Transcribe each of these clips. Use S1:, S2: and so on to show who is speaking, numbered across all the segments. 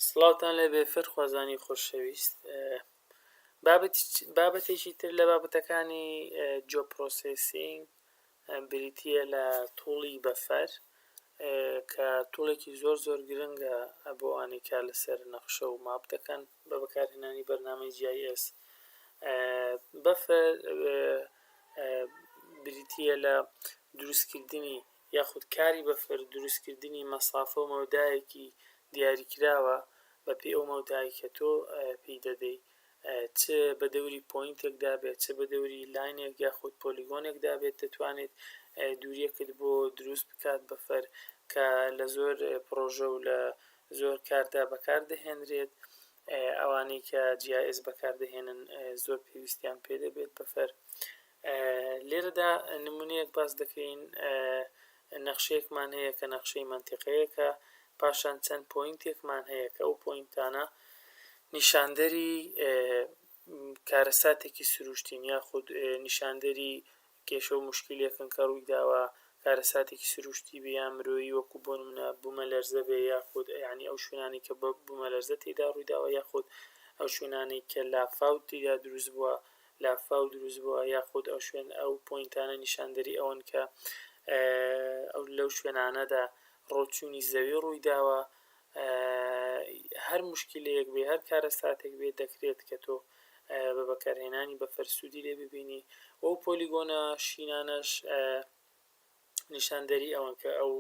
S1: سڵاوتان لێبێ فێرخوازانی خۆشەویست بابەتێکی تر لە بابەتەکانی جۆ پرۆسسینگ بریتە لە توڵی بەفەر کە توڵێکی زۆر زۆر گرنگە بۆ ئەوانەی کار لەسەر نەخشە و ماپ دەکەن بە بەکارهێنانی بەرنامەی GIS بەفەر بریتە لە دروستکردنی یاخود کاری بەفر دروستکردنی مەسافە و مەودایەکی دیاریکراوە بەپێی ئەو مەودایەی کە تۆ پێی دەدەی چ بە دەوری پۆینتێکدا بێت چ بە دەوری لاینێک یاخود پۆلیگۆنێکدا بێت دەتوانێت دووریەکت بۆ دروست بکات بەفر کە لە زۆر پڕۆژە و لە زۆر کاردا بەکاردەهێنرێت ئەوانەی کە جی ئای ئێس بەکاردەهێنن زۆر پێویستیان پێ دەبێت بەفر لێرەدا نموونەیەک باس دەکەین، نەخشەیەکمان هەیە کە نەخشەی مەنتیقەیەکە، پاشان چەند پۆینتێکمان هەیە کە ئەو پۆینتانە نیشاندەری کارەساتێکی سروشتین یاخود نیشاندەری کێشە و مشکلێکن کە ڕووی داوە کارەساتێکی سروشتی بێ یا مرۆیی وەکو بۆ منە بوومە لەرزە بێ یاخود ینی ئەو شوێنانی کە بە بوومە لەرزە تێدا ڕوویداوە یاخود ئەو شوێنانەی کە لافاوتیدا دروست بووە لافاو دروست بووە یاخود ئەو شوێن ئەو پۆینتانە نیشاندەری ئەوەن کە ئەو لەو شوێنانەدا ڕۆچوونی زەوی ڕووی داوە هەر مشکلەیەک بێ هەر کارەساتێک بێ دەکرێت کە تۆ بە بەکارهێنانی بە فەرسوودی لێ ببینی و پۆلیگۆنە شینانەش نیشاندەری ئەوەن کە ئەو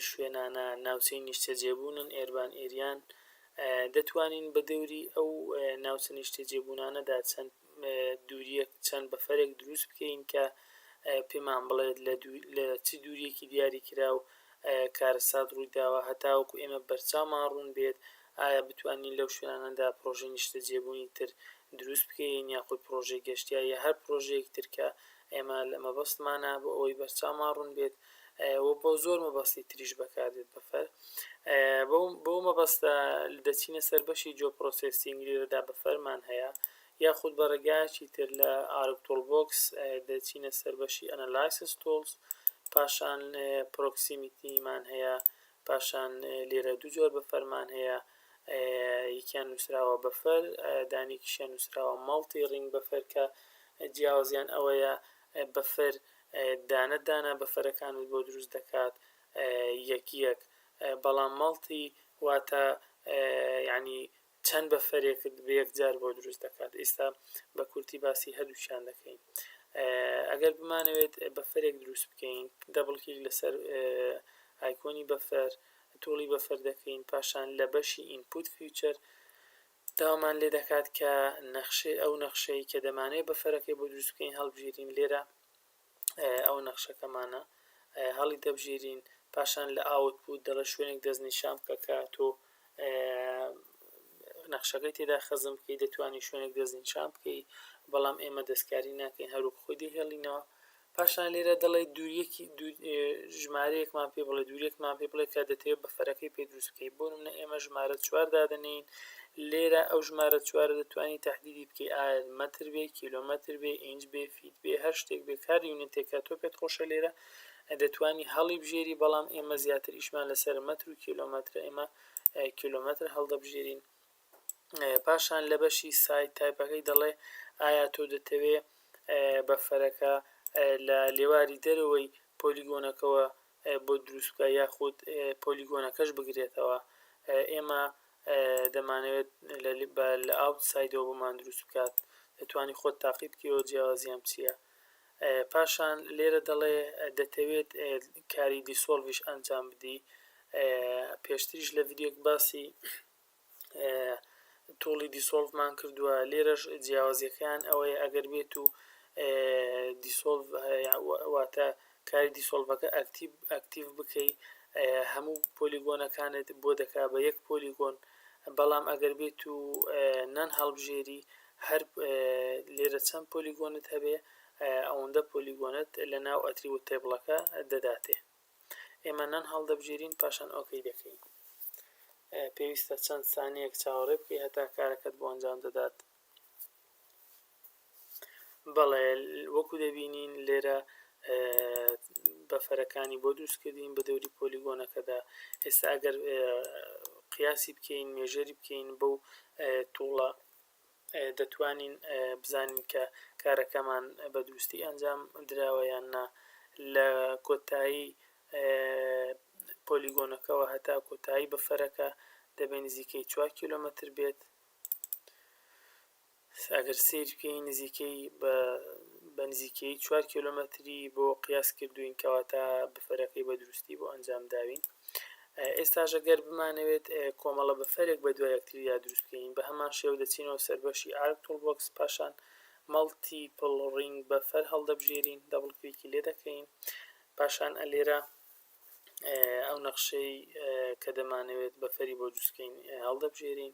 S1: شوێنانە ناوچەی نیشتەجێبوونن ئێربان ئێریان دەتوانین بە دەوری ئەو ناوچە نیشتەجێبوونانەدا چەند دووریەک چەند بەفرێک دروست بکەین کە پێمان بڵێت لە چ دووریەکی دیاری کرا و کارەسات ڕوویداوە هەتاوەکو ئێمە بەرچاومان ڕوون بێت ئایا بتوانین لەو شوێنانەدا پرۆژەی نیشتەجێبوونی تر دروست بکەین یاخود پرۆژەی گەشتیایە هەر پرۆژەیەک ترکە ئێمە لە مەبەستمانە بۆ ئەوەی بەرچاومان ڕوون بێت و بۆ زۆر مەبەستی تریش بەکار دێت بەفەر بۆ مەبەستە دەچینە سەر بەشی جۆ پرۆسسینگ لێرەدا بەفەرمان هەیە یاخود بە ڕێگایەکی تر لە ئارکتۆل بۆکس دەچینە سەر بەشی ئەنەلایسس تۆڵس پاشان پرۆکسیمیتیمان هەیە پاشان لێرە دوو جۆر بەفەرمان هەیە یەکیان نووسراوە بەفەر دانێکیشیان نووسراوە مەڵتی ڕینگ بەفەر کە جیاوازیان ئەوەیە بەفەر دانە دانە بەفەرەکانت بۆ دروست دەکات یەک یەک بەڵام مەڵتی واتە یعنی چەند بەفرێکت بەیەکجار بۆ دروست دەکات ئیستا بەکورتی باسی هەردووکیان دەکەین ئەگەر بمانەوێت بەفرێک دروست بکەین دەبڵ کلیک لەسەر ئایکۆنی بەفر توڵی بەفر دەکەین پاشان لە بەشی ئینپوت فیوچەر داوامان لێ دەکات کە نەخشەی ئەو نەخشەی کە دەمانەوێت بەفرەکەی بۆ دروست بکەین هەڵبژیرین لێرە ئەوە نەخشەکەمانە هەڵی دەبژیرین پاشان لە ئاوت بوو دەڵە شوێنێک دەست نیشان بکە کە تۆ نەخشەکەی تێدا خەزم بکەی دەتوانانی شوێنێک دەست نیشان بکەی بەڵام ئێمە دەستکاری ناکەین هەروک خۆی دەهێڵینەوە پاشان لێرە دەڵێ دووریەکی ژمارەیەکمان پێ بڵێ دوورێکمان پێ بڵێ کە دەتەوێت بە فەرەکەی پێ دروست بکەی بۆ منە ئێمە ژمارە چوار دادنین لێرە ئەو ژمارە چوارە دەتوانانی تهدیدی بکەی ئایا مەتر بێ کیلومتر بێ ئینج بێ فی بێ هەر شتێک بێ کار یونیتێکە تۆ پێت خۆشە لێرە دەتوانی هەڵی بژێری بەڵام ئێمە زیاتر ئیشمان لەسەر مەتر و کیلۆمەترە ئێمە کیلۆمەتر هەڵدەبژێرین پاشان لە بەشی سایت تایپەکەی دەڵێ ئایا تۆ دەتەوێ بەفەرەکە لە لێواری دەرەوەی پۆلیگۆنەکەەوە بۆت دروست بکا یاخود پۆلیگۆنەکەش بگرێتەوە ئێمە دەمانەوێت لە ئاوت سایدەوە بۆمان دروست بکات دەتوانی خۆت تاقی بکەوە جیاوازیان چییە پاشان لێرە دەڵێ دەتەوێت کاری دیسۆڵڤش ئەنجام بدی پێشتریش لە ڤیددیوک باسی توڵی دیسۆڵڤ مان کردوە لێرەش جیاوازیەکەیان ئەوەیە ئەگەر بێت و دیسۆڵڤ واتە کاری دیسۆڵڤەکە ئەکتیب ئەکتیڤ بکەی هەموو پۆلیگۆنەکانت بۆ دەکا بە یەک پۆلیگۆن بەڵام ئەگەر بێت و نان هەڵبژێری هەر لێرە چەند پۆلیگۆنت هەبێ ئەوەندە پۆلیگۆنت لە ناو ئەتری و تێبڵەکە دەداتێ ئێمە نان هەڵدەبژێرین پاشان ئۆکەی دەکەین پێویستە چەند سانیەک چاوەڕێ بکەی هەتا کارەکەت بۆ ئەنجام دەدات بەڵێ وەکو دەبینین لێرە بەفەرەکانی بۆ دروست کردین بە دەوری پۆلیگۆنەکەدا ئێستا ئەگەر قیاسی بکەین مێژەری بکەین بەو توڵە دەتوانین بزانین کە کارەکەمان بە دروستی ئەنجام دراوە یان نا لە کۆتایی پۆلیگۆنەکەوە هەتا کۆتایی بەفەرەکە دەبێ نزیکەی چوار کیلۆمەتر بێت ئەگەر سیر بکەین نزیکەی بە نزیکەی چوار کیلۆمەتری بۆ قیاس کردوین کەواتە بەفەرەکەی بە دروستی بۆ ئەنجام داوین ئێستاش ئەگەر بمانەوێت کۆمەڵە بەفرێک بە دوای یەکتریدا دروست بکەین، بە هەمان شێوە دەچینەوە سەر بەشی ئارک تول بۆکس، پاشان مەڵتیپڵ ڕینگ بەفەر هەڵدەبژێرین، دەبڵ کلیکی لێ دەکەین، پاشان لێرە ئەو نەخشەی کە دەمانەوێت بەفەری بۆ دروست بکەین هەڵدەبژێرین،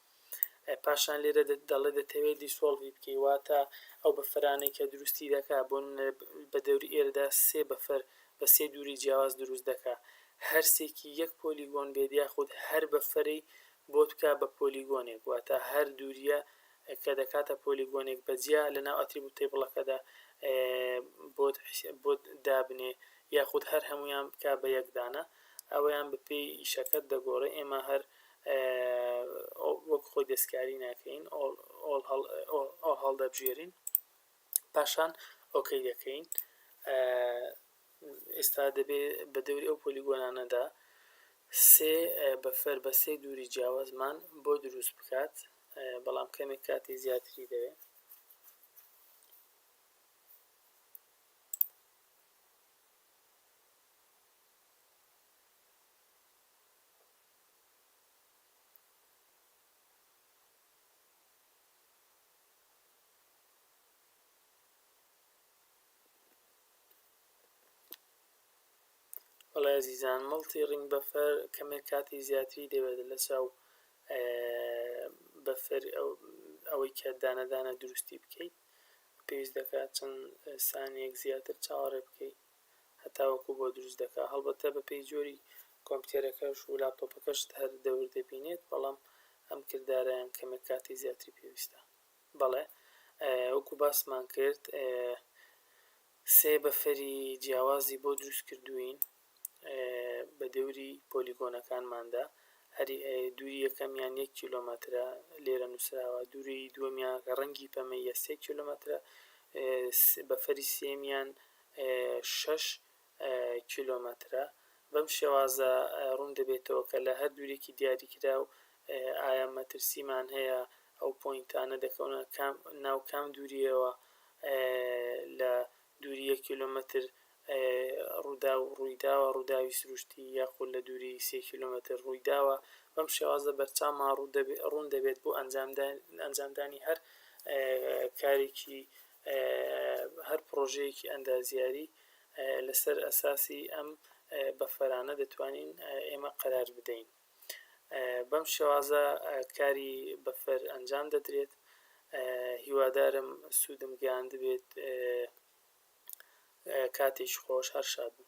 S1: پاشان لێرە دەڵێ دەتەوێ دیسۆڵڤی بکەی واتە ئەو بەفرانەی کە دروستی دەکا بۆ نمونە بە دەوری ئێرەدا سێ بەفر بە سێ دووری جیاواز دروست دەکا هەرسێکی یەک پۆلیگۆن بێت یاخود هەر بەفرەی بۆت بکا بە پۆلیگۆنێک واتە هەر دوورییە کە دەکاتە پۆلیگۆنێک بە جیا لەناو ئەتریبوت تەیبڵەکەدا بۆت بۆت دابنێ یاخود هەر هەمویان بکا بە یەک دانە ئەوەیان بەپێی ئیشەکەت دەگۆڕێ ئێمە هەر وەک خۆی دەستکاری ناکەین ئۆڵ هەڵدەبژێرین پاشان ئۆکەی دەکەین ئێستا دەبێت بە دەوری ئەو پۆلیگۆنانەدا سێ بەفەر بە سێ دووری جیاوازمان بۆ دروست بکات بەڵام کەمێک کاتی زیاتری دەوێت وەڵای ئەزیزان مڵتی ڕینگ بەفەر کەمێک کاتی زیاتری دەوێت لەچاو بەفر ئەوەی کە دانە دانە دروستی بکەیت پێویست دەکات چەند سانیەک زیاتر چاوەڕێ بکەیت هەتاوەکو بۆ دروست دەکا هەڵبەتە بە پێی جۆری کۆمپیتەرەکەش و لاپتۆپەکەشت هەر دەور دەبینێت بەڵام ئەم کردارەیان کەمێک کاتی زیاتری پێویستە بەڵێ وەکو باسمان کرد سێ بەفەری جیاوازی بۆ دروست کردوین بە دەوری پۆلیگۆنەکانماندا هەری دووری یەکەمیان یەک کیلۆمەترە لێرە نووسراوە دووری دووەمیان ڕەنگی پەمەیە سێ کیلۆمەترە بەفەری سێمیان شەش کیلۆمەترە. بەم شێوازە ڕوون دەبێتەوە کە لە هەر دوورێکی دیاریکراو ئایا مەترسیمان هەیە، ئەو پۆینتانە دەکەونە ناو کام دوورییەوە لە دووری یەک کیلۆمەتر ڕووداو ڕوویداوە، ڕووداوی سروشتی، یاخود لە دووری سێ کیلۆمەتر ڕوویداوە. بەم شێوازە بەرچاومان ڕوون دەبێت بۆ ئەنجامدانی هەر کارێکی هەر پڕۆژەیەکی ئەندازیاری لەسەر ئەساسی ئەم بەفەرانە دەتوانین ئێمە قەرار بدەین بەم شێوازە کاری بەفەر ئەنجام دەدرێت هیوادارم سوودم گەیاند بێت کاتێکی خۆش هەر شاد بن